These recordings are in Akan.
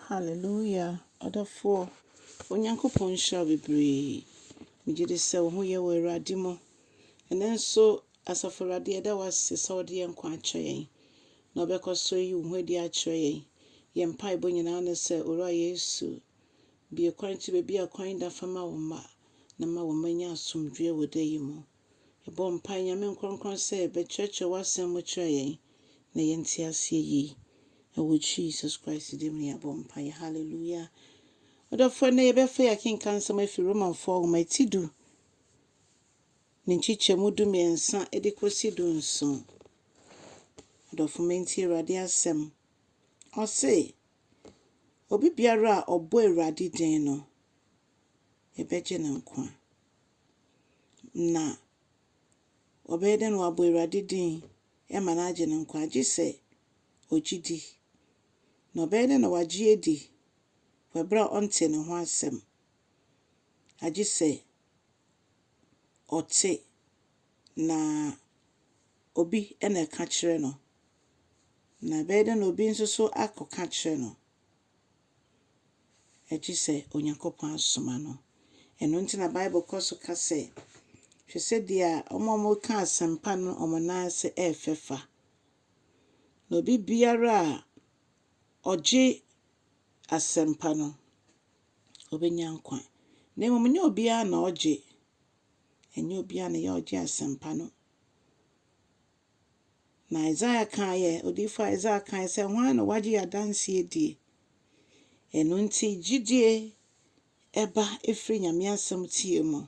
Hallelujah ɔdɔfoɔ Onyankopɔn nhyira wo bebree megye di sɛ wo ho yɛ wɔ Awurade mu ɛnɛ nso asafo Awurade yɛda wo ase sɛ wode yɛn nkwa akyɛ yɛn na wobɛkɔ so ayi wo ho adi akyerɛ yɛn yɛn mpaebɔ nyinaa ne sɛ Owura Yesu bie kwan kyi baabi a kwan da fa ma wo mma na ma wo mma nya asomdwoeɛ wɔ da yi mu Yɛbɔ mpae, Nyame Nkronkron, sɛ bɛkyerɛkyerɛ w'asɛm mu kyerɛ yɛn na yɛnte aseɛ yie. Ɛwɔ Jesus Christ din mu na yɛabɔ mpaeɛ. Hallelujah. Ɔdɔfoɔ, ɛnnɛ yɛbɛfa yi akenkan nsɛm afiri Romanfoɔ nwoma ti du ne nkyekyɛmu du mmiɛnsa de kɔsi du nson. Ɔdɔfo ma nti Awurade asɛm. Ɔse, Obi biara a ɔbɔ Awurade din no, ebɛgye no nkwa. Na ɔbɛyɛ dɛn na ɔabɔ Ewurade dzin ma no aagye no nkwa? Gyesɛ ogye dzi. Na ɔbɛyɛ dɛn na ɔagye edzi wɔ aber a ɔnntsee no ho asɛm? Agyesɛ ɔtse na obi na ɔka kyerɛ no. Na ebɛyɛ dɛn na obi so akɔ ka kyerɛ no? gye sɛ Onyankopɔn asoma no. Ɛno nti na Bible kɔ so ka sɛ, Hwɛ sɛdeɛ wɔn a wɔka asɛmpa no wɔn nan ase yɛ fɛ fa, na obibiara a ɔgye asɛmpa no, ɔbɛnya nkwa. Na mmom nyɛ obiara na ɔgye, ɛnyɛ obiara na ɛyɛ a ɔgye asɛmpa no. Na Isaiah kaeɛ, odiyifoɔ Isaiah kaeɛ sɛ, Hwan na wagye yɛn adanseɛ adie? Ɛno nti, gyidie ɛba ɛfiri Nyame asɛm tie mu.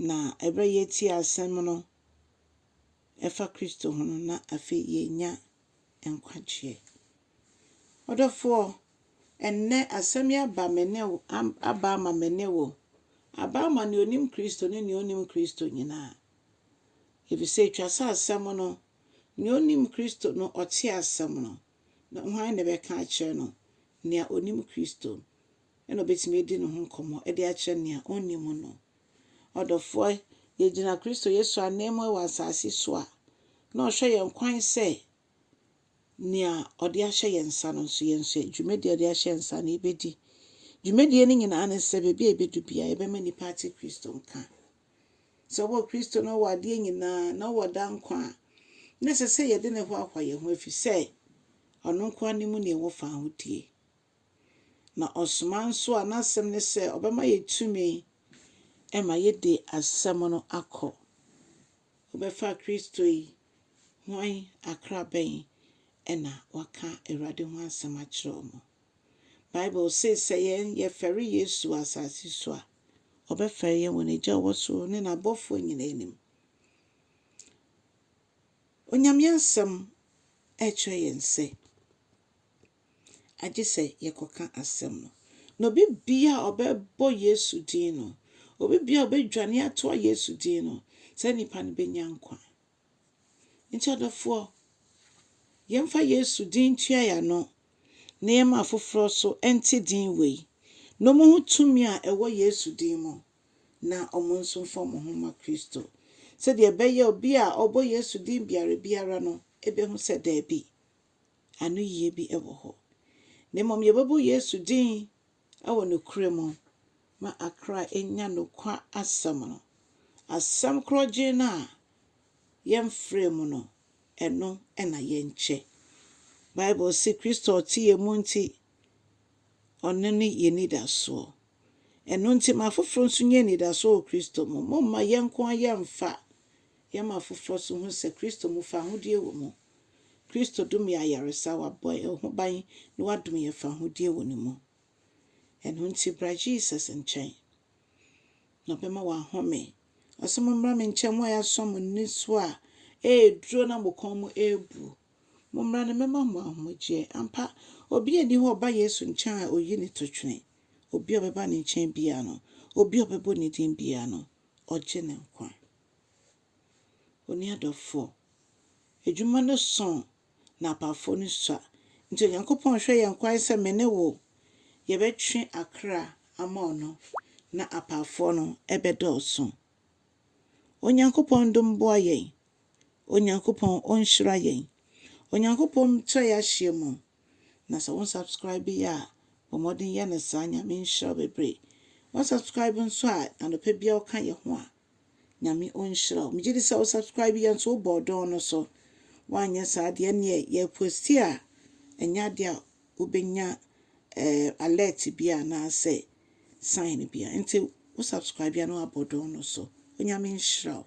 Na ɛberɛ a yɛtie asɛm no ɛfa Kristo ho no, na afei yɛnya nkwagyeɛ. Ɔdɔfoɔ, ɛnnɛ asɛm yi aba me ne wo, aba ama me ne wo, aba ama nea ɔnim Kristo ne nea ɔnnim Kristo nyinaa. Efisɛ etwa sɛ asɛm no, nea onim Kristo no, ɔte asɛm no, na hwan na ɛbɛka akyerɛ no? Nea onim Kristo na obetumi adi ne ho nkɔmmɔ de akyerɛ nea onnim no. Ɔdɔfoɔ, yegyina Kristo Yesu ananmu wɔ asase so a, na ɔhwɛ yɛn kwan sɛ nea ɔde ahyɛ yɛn nsa no nso, yɛn nso dwumadi a ɔde ahyɛ yɛn nsa no, yɛbɛdi. Dwumadie no nyinaa ne sɛ baabi a yɛbɛdu biara, yɛbɛma nnipa ate Kristo nka. Sɛ ɔwɔ Kristo na ɔwɔ adeɛ nyinaa na ɔwɔ daa nkwa a, na ɛsɛ sɛ yɛde ne hoahoa yɛn ho ɛfiri sɛ ɔno nko ara ne mu ne ɛwɔ faa ho die. Na ɔsoma nso a n'asɛm ne sɛ ɔbɛma yɛ tumi ɛma yɛde asɛm no akɔ. Wobɛfa Kristo yi hwan akrabɛn ɛna waka Awurade ho asɛm akyerɛ ɔmo. Bible se sɛ yɛn yɛfɛre Yesu wɔ asase so a, ɔbɛfɛre yɛn wɔ n'Agya a ɔwɔ soro ne n'abɔfoɔ nyinaa anim. Onyame Asɛm ɛkyerɛ yɛn sɛ agye sɛ yɛkɔka asɛm no. Na obi bia a ɔbɛbɔ Yesu din no, obi bia a ɔbɛdwane atoa Yesu din no, saa nipa no bɛnya nkwa. Nti ɔdɔfoɔ, yɛmfa Yesu din ntua yɛn ano na yɛmma afoforɔ nso nte din wei na wɔnhu tumi a ɛwɔ Yesu din mu na wɔn nso mfa wɔn ho mma Kristo sɛdeɛ ɛbɛyɛ obi a ɔbɔ Yesu din biara biara no bɛhu sɛ daabi, anoyie bi wɔ hɔ. Na mmom yɛbɛbɔ Yesu din. wɔ nokorɛ mu ma akra nya nokwa asɛm no. Asɛm korɔgyenn no a yɛmfrɛɛ mu no, ɛno na yɛnkyɛ. Bible se Kristo a ɔte yɛn mu nti, ɔno ne yɛn anidasoɔ. Ɛno nti ma afoforɔ nso nya anidasoɔ wɔ Kristo mu. Momma yɛn nko ara yɛmfa yɛma afoforɔ nso hu sɛ Kristo mu fahodie wɔ mu. Kristo domee ayaresa, Ɔabɔ yɛn ho ban, na Ɔadom yɛn fahodie wɔ Ne mu. Ɛno nti bra Jesus nkyɛn, na Ɔbɛma wo ahome. Ɔse, Mommra me nkyɛn, mo a yɛasɔ mo ani so a ɛreduro na mo kɔn mu rebu. Mommra na mɛma mo ahomegyeɛ. Ampa, obi nni hɔ a ɔba Yesu nkyɛn a ɔyi ne totwene. Obi a ɔbɛba Ne nkyɛn biara no, obi a ɔbɛbɔ Ne din biara no, Ɔgye ne nkwa. Onni adɔfoɔ. Adwuma no sõ na apafoɔ no sua. Nti Onyankopɔn hwɛ yɛn kwan sɛ me ne wo yɛbɛtwe akra ama ɔno na apafoɔ no bɛdɔɔso. Onyankopɔn dom boa yɛn. Onyankopɔn ɔnhyira yɛn. Onyankopɔn nkyerɛ yɛn ahyeɛ mu. Na sɛ wo nsubscribe yɛ a, bɔ mmɔden yɛ no saa. Nyame nhyira wo bebree. Wo nsubscribe nso a, anɔpa biara woka yɛn ho a, Nyame ɔnhyira wo. Megye di sɛ wo subscribe yɛ nso wo bɔɔ dɔn no so. Woanyɛ saa deɛ ɛneɛ yɛ posti a ɛnyɛ adeɛ a wobɛnya eh, alert bi anaasɛ sign bi a. Nti wo subscribe yɛ na woabɔ dɔn no so. Onyame nhyira wo.